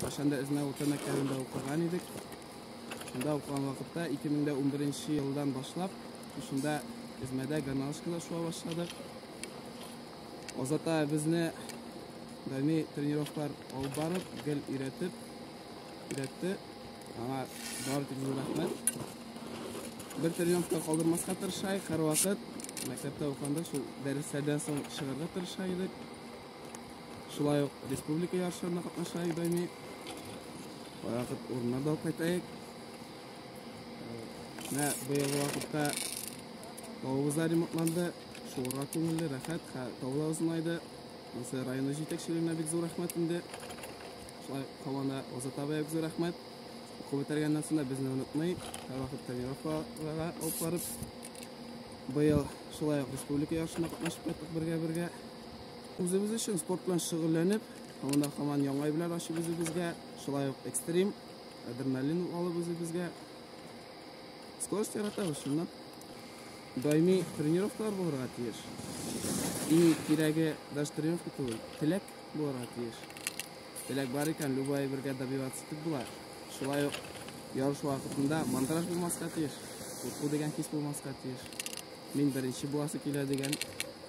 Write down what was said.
Кайчан да Эзмә урта мәктәбендә укыган идек. Шунда укыган вакытта 2011 елдан башлап шунда Эзмәдә гармошкада шуа башладык. Азата безне даими тренировкалар алып барып, гел өйрәтеп, өйрәтте. Аңа бар тик зур рәхмәт. Бер тренировка калдырмаска тырышайык, һәрвакыт мәктәптә укыганда шул дәресләрдән соң чыгарга тырыша идек. Шулай ук республика ярышларына катнаша Ибайми. Вакыт урынына да кайтайык. Менә быелгы вакытта тавыбыз да ремонтланды. Шуңа күңелле, рәхәт, тавы да озынайды. Монысы районы җитәкчелегенә бик зур рәхмәт инде. Шулай команда Азат абыйга бик зур рәхмәт. Уку бетергәннән соң да безне онытмый, һәрвакыт тренировкаларга алып барып, быел шулай ук республика ярышына катнашып кайттык бергә-бергә. Үзебез өчен спорт белән шөгыльләнеп, һаман һаман яңа әйберләр ачып үзебезгә, шулай ук экстрим, адреналин алып үзебезгә. Скорость яратабыз шуннан. Даими тренировкалар булырга тиеш. Иң кирәге даже тренировка түгел, теләк булырга тиеш. Теләк бар икән, любой әйбергә добиваться итеп була. Шулай ук ярыш вакытында мандраж булмаска тиеш, курку дигән хис булмаска тиеш. Мин беренче буласы килә дигән